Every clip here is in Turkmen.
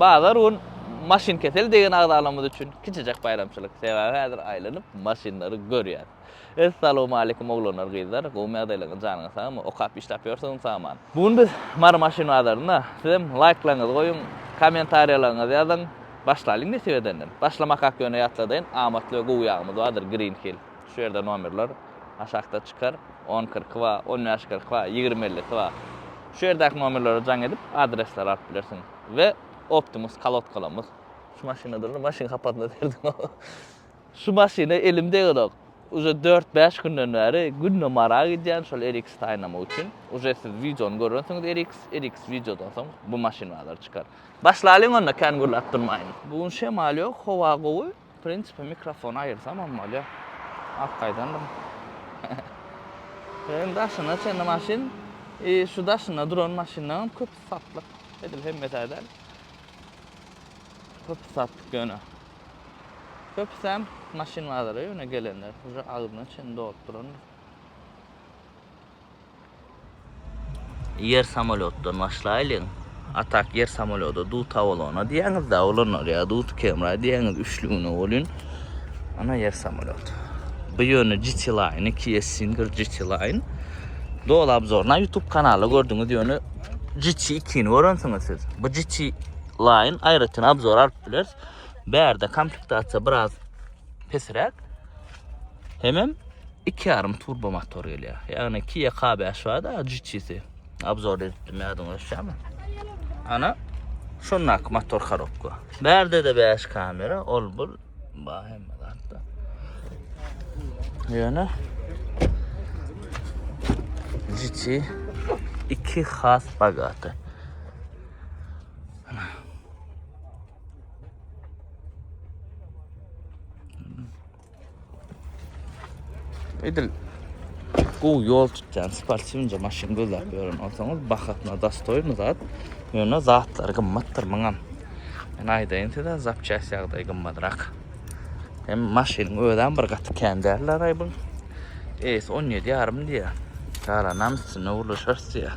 Bazar gün Maşynkesel degen agzalarymyz üçin kiçijek baýramçylyk. Sebäbi häzir aýlanyp maşynlary görýäs. Essalowmaleýkum oglanlar gyzlar, gowymy ýagdaýlaryň janyňyz sagmy, okap işläp ýörsüňiz saman. Bu gün biz Mary maşyn bazarynda, sizem laýklaryňyzy goýuň, kommentariýalaryňyzy ýazyň, başlalyň nesip edenden. Başlamakak ýöne ýatladaýyn, amatly we gowy ýagymyz bardyr Green Hill. Şu ýerde nomerler aşakda çykar, on kyrky bar, on bäş kyrky bar, ýigrimi ellisi bar. Şu ýerdäki nomerlere jaň edip, adresleri alyp bilersiň. We Optimus kolodkalarymyz. Şu maşyna durly maşyn hapasyna serdim. Şu maşyna elim degenok. Uje dört bäş günden bäri günde marag edýän şol RX saýnamak üçin. Uje siz wideony görensiňiz RX, RX wideodan soň bu maşyn bazara çykar. Başlalyň onda kän gürläp durmaýyn. Bu gün şemal ýok, howa gowy. W prinsipi mikrofony aýyrsamam bolýar. Ak gaýdandym. Hem daşyna çenli maşyn, i şu daşynda duran maşynlaryň köpüsi satlyk. Edil hemmesi-ä däl. Köpüsi satlyk ýöne. Köpüsem maşyn bazara ýöne gelenler. Uje agzyna çenli dolup durandyr. Ýer samolýotdan başlaýlyň. Atak ýer samolýody dut awalona diýýäňiz-dä, olanlar ýa dut kemra diýýäňiz üçlügine welin. Ana ýer samolýot. Bu ýöne GT Line, iki S Singer GT Line. Dol obzorna YouTube kanalda gördüňiz ýöne GT 2-ni görensiňiz siz. Bu GT Line aýratyn obzor alyp bileris. Bärde komplektasiýa biraz pesräk. Hemem 2,5 turbo motor gelýär. Ýagny Kia K5 bar-da, GT-si. Obzor edipdim, ýadyňyza düşýärmi? Ana, şondaky motor korobka. Bärde-de 5 kamera, ol bul bar hemme zatda. Ýöne GT 2 has bagaty. Edil bu yol tutýan sportywce maşyn gözläp ýören bolsaňyz bahatna dastoýmy zat. Ýöne zatlar gymmatdyr muňam. Men aýdaýyn size zapçast ýagdaý gymmatrak. Hem maşynyň özem bir gaty kän däldir aý bu. Es 17 ýarym diýýär. Galanam üstüne ulaşarys diýýär.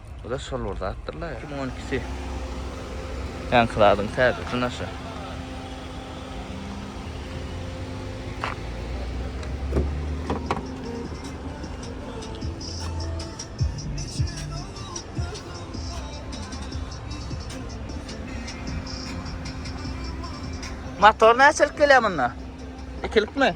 Bu-da şol bir zatdyr-la. Iki müň on ikisi. Ýaňky zadyň täzesi naşa. Motor näçelik gelýär munda? Ikilikmi?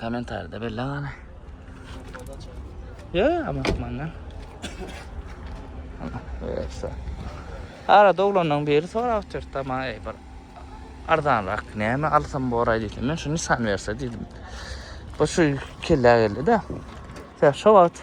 Komentarda belli gana. Ya ama manna. Neyse. Ara doglandan beri sonra oturt ama ey bir ardan rak ne mi alsam bu oray dedim. Ben şu nisan verse dedim. Bu şu kelle geldi de. Sen şu vakit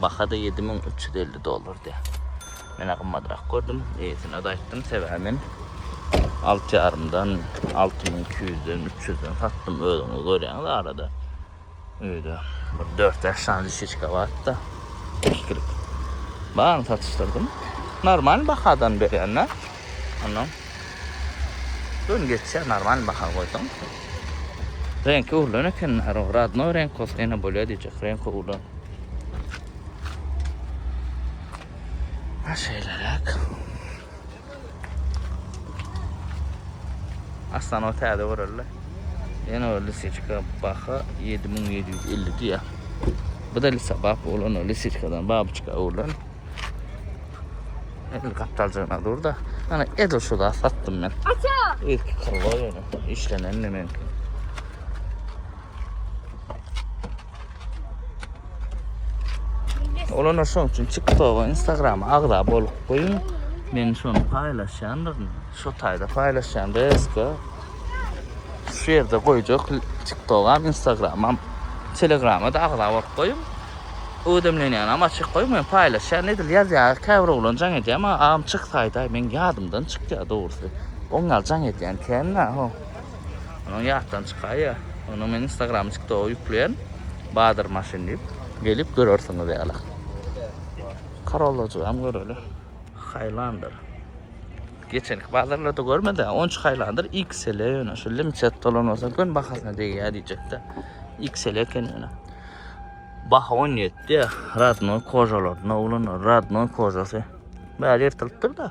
Baha-da ýedi müň üç ýüz elli dollardy. Men-ä gymmadrak gördüm. Eýesine-de aýtdym, sebäbi men alty ýarymdan, alty müň iki ýüzden, üç ýüzden satdym. Özüňiz görýäňiz arada. Öýde bir dört-bäş sany lişiçka bardy-da, ikilik. Baryny satyşdyrdym. Normal bahadan berýän-dä. Onnoň gün geçýär, normal baha goýsaň. Reňki öwrülen eken, rodnoý reňk bolsa ýene bolýar diýjek, reňki öwrülen. Ha şeýleräk. Aslan o täze görelde. Ýene o lisiçka baha 7750 diýýär. Bu da lisa bap bolan o lisiçkadan babyçka oglan. El gapdaljagyna dur da. Ana edil şu zat satdym men. Aça! Ilki kyrwa ýöne işlenen men. Olanlar şoň üçin TikTok-a, Instagram-a agza bolup goýuň. Men şony paýlaşýandyryn. Şu taýda paýlaşýan reelska. Şu ýerde goýjak TikTok-am, Instagram-am, Telegram-a da agza bolup goýuň. Ödemlenýänam açyk goýuň. Men paýlaşýan edil ýazýar. Käbir oglan jaň edýär. Maňa agam çyksaýda, men ýadymdan çykýar dogrusy. Oňňal jaň edýän kän-ä. Onuň ýatdan çykaýýa. Onuň men instagramy tiktogy ýükleýän badyr maşyn diýip. Gelip görersiňiz ýaly. Karollajygam göreli. Highlander. Geçenki bazarlarda görmedi. Onç Highlander XL ýöne şu limited dolan bolsa göni bahasyna degýär diýjekde. XL eken ýöne. Baha 17 ýa. Radnoý kožalar. Nolan Radnoý kožasy. Bäri ýyrtylypdyr-da.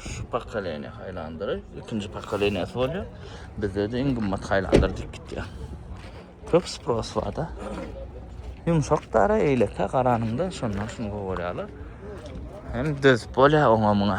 şu pokoleniýa haýlandyry, ikinji pokoleniýasy bolýar. Bizde de iň gymmat haýlandyr diýip gitýär. Köp spros bar-da. Ýumşak dara eýleke garanyňda şondan şuny gowy görýärler. Hem dözüp bolýar oňa muňa.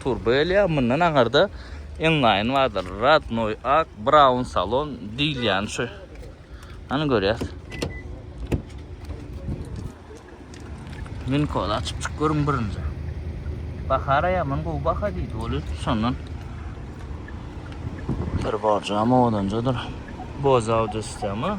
Turba elýär, mundan aňarda Enline bardyr, Radnoy, Ak, Brown salon diýilýän şu. Hany görýäs. Minko açyp çyk görün birinji. Bahara ýaman gowy baha diýdi ol ötüp şondan. Bir borjam odanjadyr. Boz audio sistema.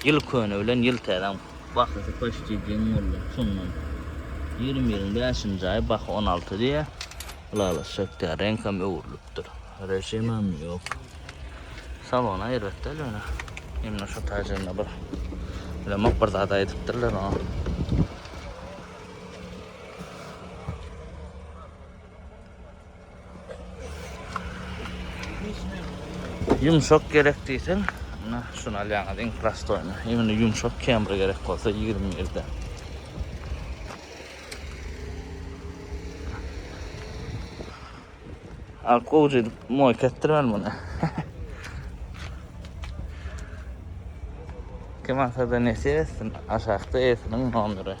Ýyl köne bilen ýyl täzäň bahasy poçti deň boldy. Şondan ýigrimi biriň bäşinji aýy baha on alty diýýä. Ylalaşjak däl. Reňkem öwrülipdir. Režimem ýok. Salona erbet däl ýöne. Ýöne şo taýjygyna bir bilemok bir zat aýdypdyrlar oňa. Yumşak gerek diysen, na şunu alýaňyz iň prostoýny. Imini yumşak kemri gerek bolsa 21-de. Al gowja edip moý ketdirmen muny. Kim alsa da nesip etsin, aşakda esiniň nomeri.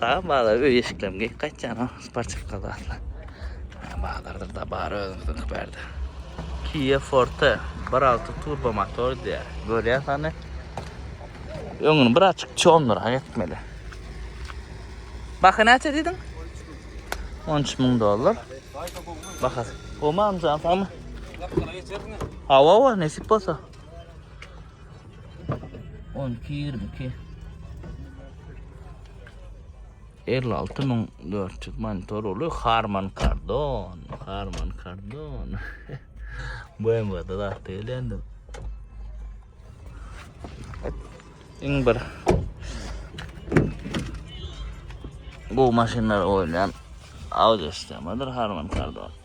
Daýy bazara öý eşiklerimi geýip gaýtýan-a, sportiwka zatlar. Daýy bazardyr da bar özümiziňki bärde. Kia Forte bir alty turbo motor diýýär. Görýäs hany. Öňüni bir açyk çondurak etmeli. Baha näçe diýdiň? 13 müň dollar. Baha. Gomam jan samy. Hawa, hawa, nesip bolsa. On iki, ýigrimi iki. Elli alty müň dört ýüz monitor uly Harman Kardon. Harman Kardon. BMW-de zat değil endi. Iň bir bu maşynlar oynayan audio sistemadyr Harman Kardon.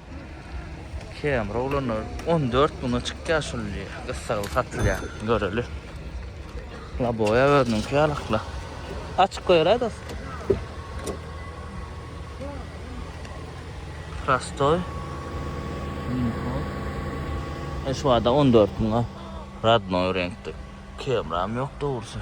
Camry oglanlar on dört müňe çykýar şul diýýär. Gyssagly satylýar. Göreli. Laboýa özüniňki ýalakla. Açyk goýaly dos. Prostoý. Şu wada on dört müňe radnoý reňkde. Camram ýok dogrusy.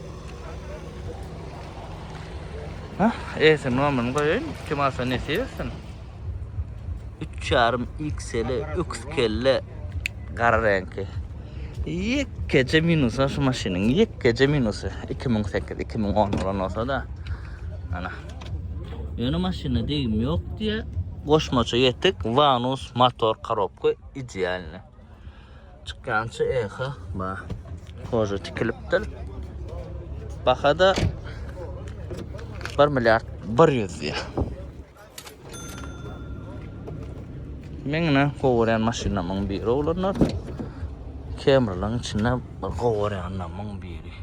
Eýsem nomerini goýaýyn. Kim alsa nesip etsin. 3,5 XL öküz kelle gara reňki. Ýekeje minusy şu maşynyň, ýekeje minusy 2008-2010 bolan bolsa da. Ana. Ýöne maşyna degim ýok diýe. Goşmaça ýetik, vanus, motor, korobka idealny. Çykýança eha ba. Hoja tikilipdir. Bahada 1 milyard 100 diýär. Meňne gowurýan maşynlarymyň biri olanlar. Kemriliň içinde bir gowurýanlarymyň biri.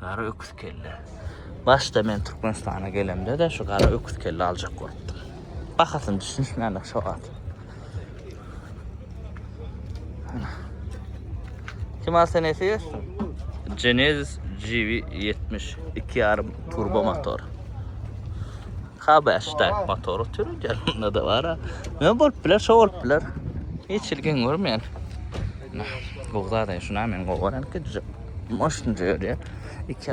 Gara öküz kelle. Başda men Türkmenistana gelemde de şu gara öküz kelle aljak bolupdym. Bahasyny düşünişmändik şo wagt. Kim alsa nesi görsün? Genesis GV70 2.5 turbo motor. K5 tak motoru türü gelinde de var ha. Ne bolup biler, şo bolup biler. Hiç ilgin görmeyen. Nah, bu zaten şuna men govaran ki düzüp. Maşın diyor ya. İki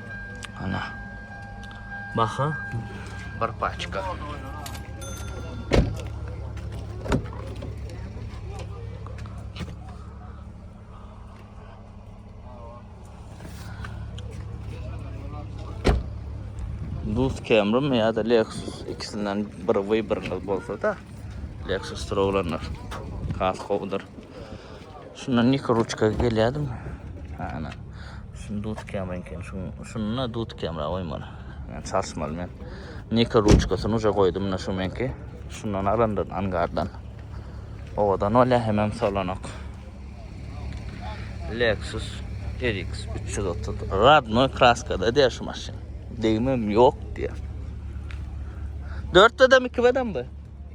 Ana. Baha bir paçka. Duz Camry mi ya da Lexus ikisinden bir vy biriniz bolsa da Lexus tur olanlar. Kas kovdur. Şundan ýeke ruçka gelýärdim. Ana. Şuny dutykýam eken. Şuny, şuny dutykýam ra goýmaly. Yani çalyşmaly men. Ýeke ruçkasyny uje goýdum da şu menki. Şundan alandan angardan. Owadan bolýar hemem solanok. Lexus RX 330. Radnoy kraskada diýär şu maşyn. Degmem ýok diýär. Dörtdedem, ikibedem bu.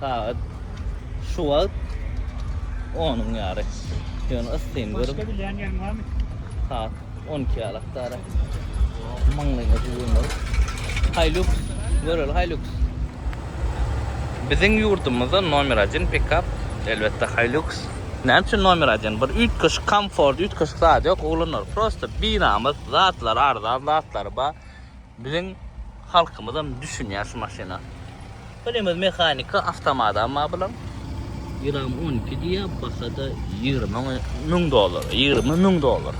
Sagat şu wagt onuň ýary. Ýöne yssyny görüp. Başga bilýän ýeriň barmy? Sagat 12 ýalak dara. Maňlaýyňa düwünler. Hilux, göreli Hilux. Biziň ýurdumyzda nomer 1 pikap elbetde Hilux. Näme üçin nomer 1? Bir üýtgeşik komfort, üýtgeşik zat ýok, ulanarys. Prosta binamys, zatlar arzan, zatlar bar. Biziň halkymyzam düşünýär şu maşyna. Bilimiz mehanika awtomadam bar bulan. Gram 12 diye bahada 20 müň dolar. 20 müň dolar.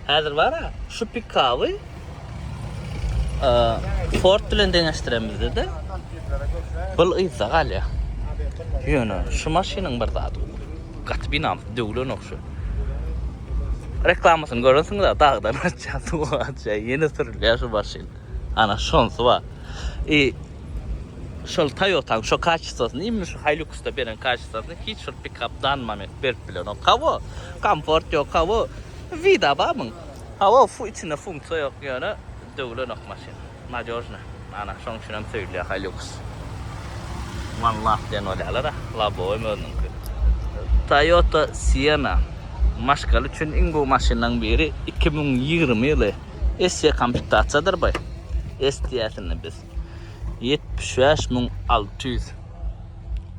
Hazır var ha şu pikabı e, Ford bilen deňeştiremizde de bil yzda galýar. Ýöne şu maşynyň bir zady gaty binam döwlen okşy. Reklamasyny görensiňiz-ä, dagdan aşýar, suwa aşýar, ýene sürülýär şu maşyn. Ana, şonsy bar. I şol Toyota-nyň şo kaçestwasyny, imni şu Hilux-da beren kaçestwasyny hiç bir pikap dan moment berip bilenok. Hawa, komfort ýok, hawa, wida barmyň? Hawa, içinde funksiýa ýok, ýöne döwülenok maşyn. Nadejny. Ana, şoň üçin hem söýülýär Hilux. One love diýen bolýarlar-a. Labowymy özüniňki. Toyota Sienna. Maşgala üçin iň gowy maşynlaryň biri. Iki müň ýigrimi ýyly. Esse komplitasiýadyr bu. S diýýäs indi biz. Ýetmiş bäş müň alty ýüz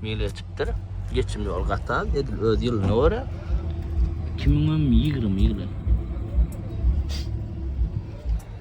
mil geçipdir. Geçim ýoly gaty az. Edil öz ýylyna görä. Iki müňem ýigrimi ýyly.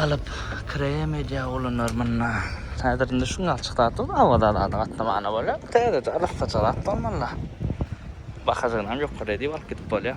Alyp krem edýär olanlar munda. Häzir indi şuň ýaly çykda dur, awada zada gatnamana bolýar. Täzeje arassaça zat bolmanda. Bahasynam ýokary diýip alyp gidip bolýar.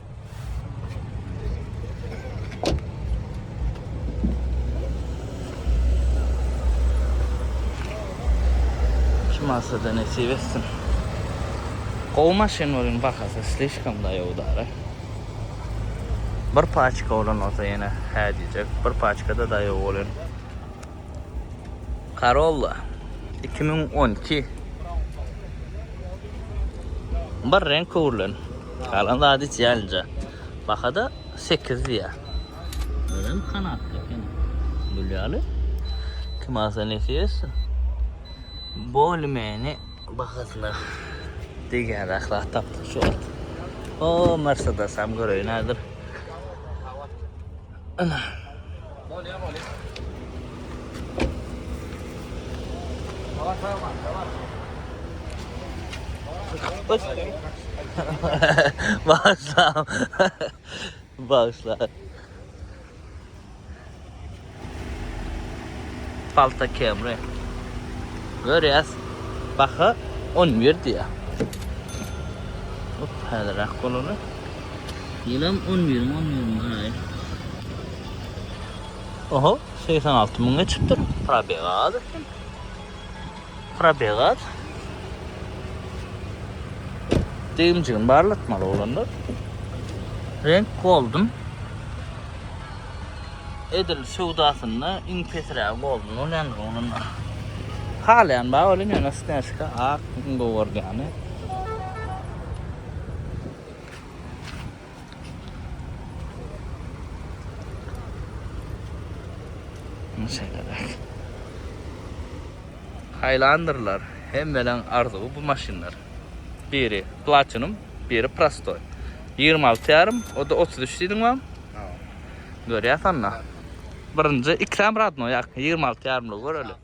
Şu masada nesip etsin. Gowy maşyn bolun bahasy slişkom da ýowdara. Bir paçka bolan olsa ýene hä diýjek. Bir paçkada da ýok bolun. Corolla iki müň on iki bir reňk öwrülen. Galan zady hiç ýalinje. Bahada sekiz diýýär. Özem kanatly eken. Gülýäli. Kim alsa nesibe etsin. Bolmeni bahasyna degýän ahlat tapdyk şu wagt. O Mercedes hem göreýin häzir. Ana. Bolýa bolýa. Bağışla. Bağışla. Palta kemre. Görýäs. Baha 11 diýär. Bu täzeräk bolany. Ýylam on biriň on biriň aýy. Oho, segsen alty müň geçipdir. Probeg az eken. Probeg az. Degimjigini barlatmaly olanlar. Renk golden. Edil söwdasynda iň pesirägi golden bolýandyr onuň. Halaýan bar welin ýöne snäşka ak iň gowy görýäni. Hylandrlar hemmelerň arzuwy bu maşynlar. Biri platinum, biri prostoý. 26 ýarym, o-da 33 diýdiň wam? Görýäs onda. Birinji ikram radno ýa 26 ýarymlygy göreli.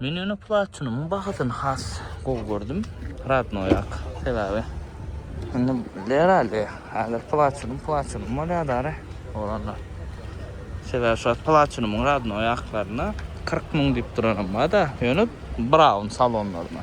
Men ýöne platinumyň bahasyny has gowy gördüm. Radnoýak sebäbi. Indi herhalde häzir platinum platinum bolýar dara oglanlar. Sebäbi şu platinumyň radnoýaklaryna 40 müň diýip duranam bar-da, ýöne brown salonlaryna.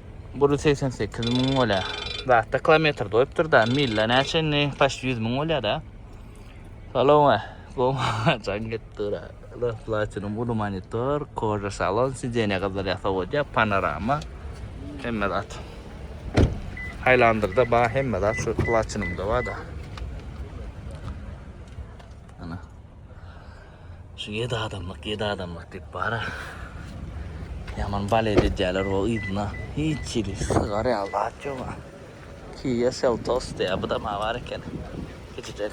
Buri segsen sekiz müň bolýa. Zatda kilometr doýupdyrda, milla näçe indi paşt ýüz müň bolýada. Salon goma jaň gitdira. Ala platinum uly monitor, koja salon, sidenýa gyzlar ýasa bolýa, panorama. Hemme zat. Haylandrda ba hemme zat şu platinumda bada. Şu yedi adamlık, yedi adamlık deyip bara. Yaman balet edýärler o yzyna. Hiç ýeri sygar ýaly zat ýok. Kia Seltos diýýär. Bu da maňa bar eken. Gijijek.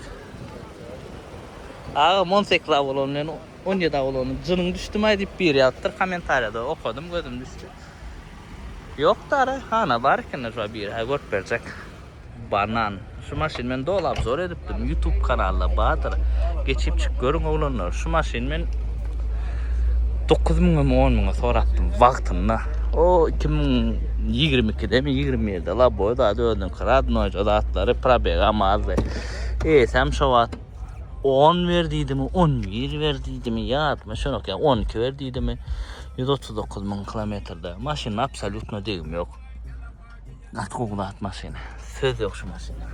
Aga 18 awulon bilen 17 awulonyň jynyň düşdümaý diýip biri ýazypdyr kommentariýada. Okadym gözüm düşdi. Ýok dara, hana bar eken şu biri. Ha görüp berjek. Banan. Şu maşyn men doly abzor edipdim. YouTube kanalda bardyr. Geçip çyk görüň oglanlar. Şu maşyn men 9 müňe mi 10 müňe sorapdym wagtynda. O 2022-de mi 21-de la boy zady özüniň kradnoy zatlary probeg amazdy. Eýsem şo wagt 10 ber diýdimi, 11 ber diýdimi, ýatmy şonok ýa 12 ber diýdimi. 139 müň kilometrde. Maşynyň absolýutno degim ýok. Gaty gowy zat maşyn. Söz yok şu maşyna.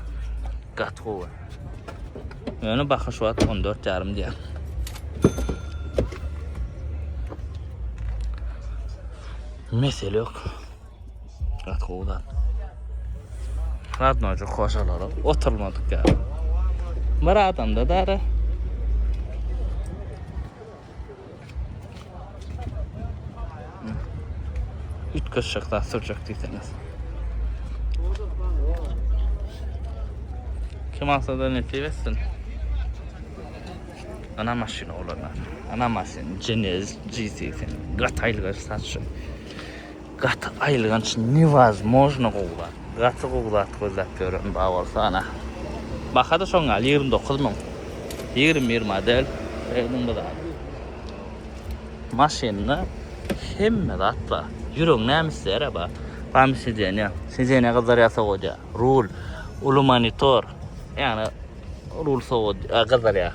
Gaty gowy. Ýöne baha şu wagt 14 ýarym diýýär. Mesele yok. Gaty gowy zat. Radnocu hoşalara oturmadyk ýaly. Bir adamda dara. Üýtgeşik zat sürjek diýseňiz. Kim alsa da nesip etsin. Ana maşyn olanlar. Ana maşyn Genesis G80. Gataylyga satşy. Gaty aýylganç newazmojno gowy zat. Gaty gowy zat gözläp ýören bar bolsa ana. Bahada şoň ýaly ýigrimi dokuz müň. Ýigrimi bir model Redmi bu zat. Maşynda hemme zat bar. Ýürek näme isleýär-ä ba. Bamy sidenýa. Sidenýa gyzdyrýar sowadýar. Rul, uly monitor. Ýagny rul sowad gyzdyrýar.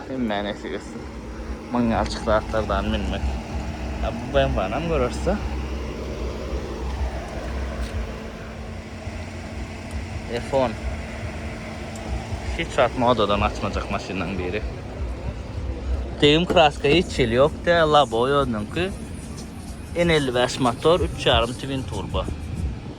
Hemmä nesip etsin Myň ýalçyk zatlardan münmek. Ýa bu BMW-nam görersda. Efon. Hiç wagt modadan açmajak maşynyň biri. Tegim kraska hiç ýeli ýok de, labo özüniňki. N55 motor, 3,5 twin turbo.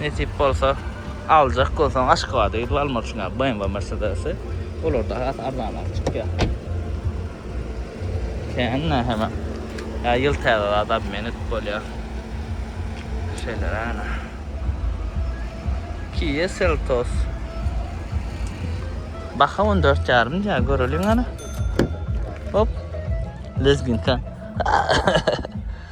Nesip bolsa aljak bolsaň Aşgabada gidip almak üçin ýa BMW Mercedes-i. Olar da has arzanrak çykýar. Kände hem ýa ýyl täze zat obmen edip bolýar. Şeýle ana. Kia Seltos. Baha 14 ýarym diýär, göreliň ana. Hop. Lezginka.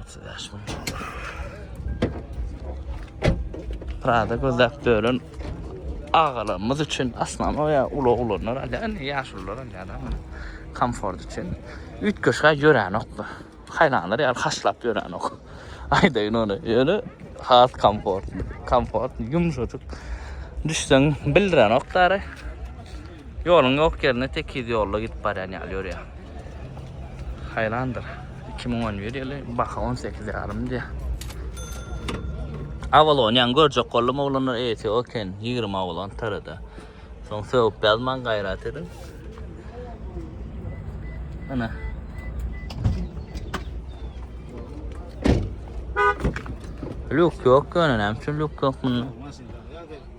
Otuz beş mün. Prada gözlep dören agalarymyz üçin aslan o ya ulu olanlar alýar, indi ýaşulular alýar ama komfort üçin. Üýtgeşge ýörenok bu. Haýlanlar ýaly haşlap ýörenok. Aýdaýyn ony. Ýöne has komfortly, komfortly, ýumşajyk. Düşseň bildirenok dary. Ýoluň ýok ýerine tekiz ýolda gidip barýan ýaly ýörýär. Haýrandyr. Iki müň on bir ýyly baha on sekiz ýarym diýýär. Avalon ýaňy görjek boldum oglanlar eýesi oken ýigrimi avalon tarada. Soň sögüp ýazmaň gaýrat ediň. Ana. Luk ýok ýöne näme üçin luk ýok munda?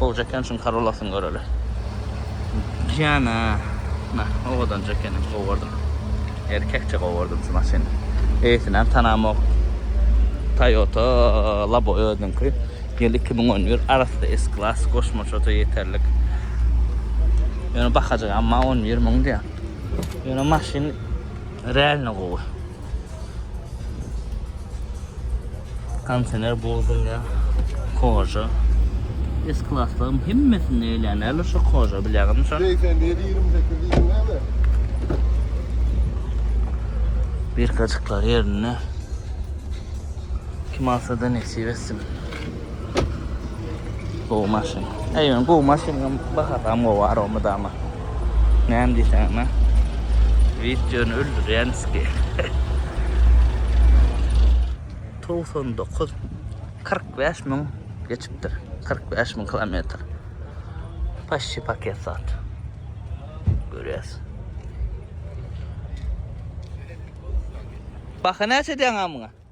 Bolja eken şuny karolasyny göreli. Jana na owadanja eken gowardym. Erkekçe gowardym şu maşyny. Eýesinem tanamok. Toyota labo özüniňki. Ýyl iki müň on bir arassa S klas goşmaçada ýeterlik. Ýöne bahajygam maňa on bir müň diýýär. Ýöne maşyn realny gowy. Kontener bozulýa, koja. Es klaslarym hemmesini eýlänäli şu koja bilýäňizmi şo? 87-28 näme? Bir kaçıklar yerine. Kim alsa da nesip etsin. Gowy maşyn. Eýmen gowy maşynyň bahasam gowy o mydama. Näme diýseň näme? Videony öldürýän ki. 99 45 min geçipdir. 45 min kilometr. Paşşi paket sat. Görýäs. Baha näçe diýen amyňa?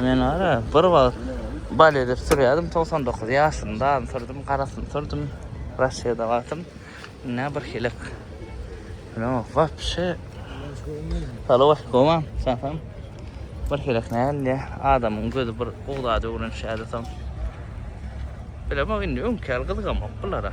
Men ara bir wagt bal edip sürýärdim 99 ýaşymda sürdüm garasyny sürdüm Russiýada wagtym ne bir hilek no wapşe Halo Koma satam bir hilek nälle adamyň gözi bir ugda döwrünşýärdi soň Bilemok indi öňki ýaly gyzgamok bulara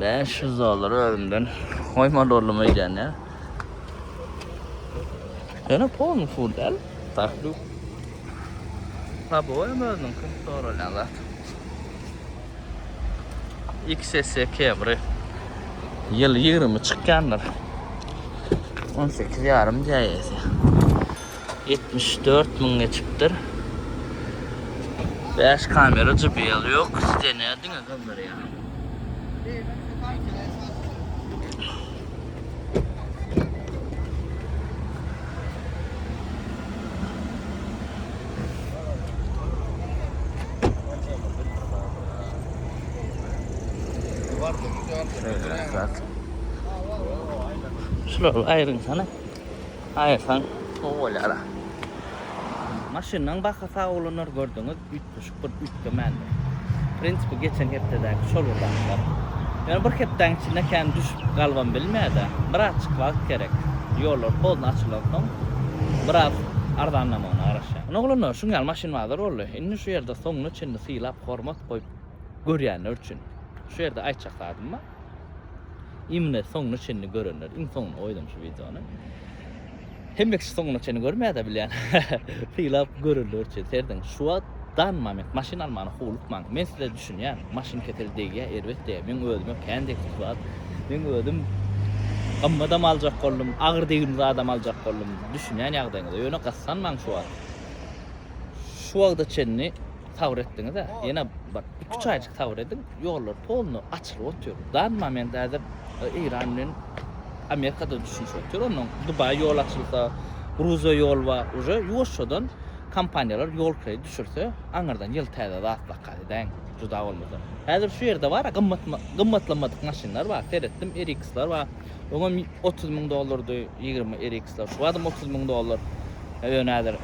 Bäş ýüz dollar özümden goýma doldum öýdýän ýa. Ýöne polny pul däl. Takdu. Tabu hem özüniň kim soralýan zat. XS Camry. Ýyl 20 çykýandyr. 18 ýarym jäýesi. Ýetmiş dört müň geçipdir. Bäş kamera JBL ýok. Stene diňe galdyrýar. Şular aýryň sana. Aýyrsaň gowy bolýara. Maşynyň baha sawlanar gördüňiz üýtgeşik bir üýtgemändi. Prinsipi geçen hepdedäki şol bir zatlar. Ýöne bir hepdäň içinde kän düşüp galybam bilmädä. Birazjyk wagt gerek. Ýollar tozna açylansoň biraz arzanlamagyna garaşýan. Ine oglanlar şuň ýaly maşyn bazar boldy. Indi şu ýerde soňuna çenli sylap hormat goýup görýänler üçin şu ýerde aýtjak zadym bar. Imine soňuna çenli görenler iň soňuna goýdum şu wideony. Hemme kişi soňuna çenli görmäde bilýän. Sylap görenler üçin serdiň. Şu wagt dan moment maşyn almany howlukmaň. Men size düşünýän. Maşyn kesel degýä, erbet degýä. Men özüme kän degdi şu wagt. Men özüm gymmadam aljak boldum, agyr degimli zadam aljak boldum. Düşünýän ýagdaýyňyza. Ýöne gyssanmaň şu wagt. Şu wagta çenli sabyr etdiňiz-ä. Ýene bir 2-3 aýjyk sabyr ediň. Ýollar polny açylyp otyr. Dany moment häzir Eýran bilen Amerika da düşünişip otyr. Ondan Dubaý ýol açylsa, Gruziýa ýol bar. Uje ýuwaşjadan kompaniýalar ýol kredit düşürse, aňyrdan ýyl täze zat zakaz edäýiň. Juda bolmasa. Häzir şu ýerde bar gymmat gymmatlamadyk maşynlar bar. Seretdim RX-ler bar. Öňem otuz müň dollardy ýigrimi RX-ler, şu badam otuz müň dollar. Ýöne häzir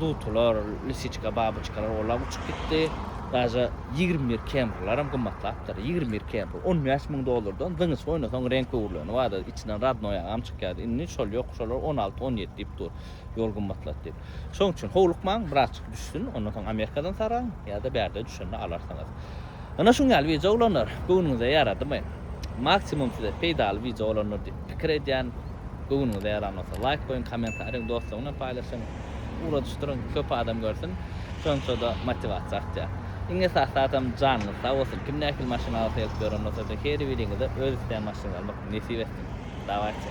dutular, lisiçka, babyçkalar olar uçup gitdi. Daže ýigrimi bir Camry-laram gymmatlapdyr. Ýigrimi bir Camry on bäş müň dollardan zyňyş oýnasaň reňk öwrüleni bardy. Içinden radnoý agam çykýardy. Indi şol ýok, şolar on alty, on ýedi diýip dur. Ýol gymmatlady diýip. Şonuň üçin howlukmaň, birazjyk düşsün, ondan soň Amerikadan saraň ýa-da bärde düşende alarsyňyz. Ana şuň ýaly wideo olanlar göwnüňize ýaradymy? Maksimum size peýdaly wideo olandyr diýip pikir edýän. Göwnüňize ýaran bolsa laýk goýuň, kommentariýaň dostlaryň bilen paýlaşyň, ugradyşdyryň, köp adam görsün. Şonça-da motiwasiýa artýar. Iň esasy zadam janyňyz sag bolsun. Kim nähili maşyn alasa gelip ýören bolsa-da, her biriňize öz isleýän maşynyňyzy almak nesip etsin. Dawayçy.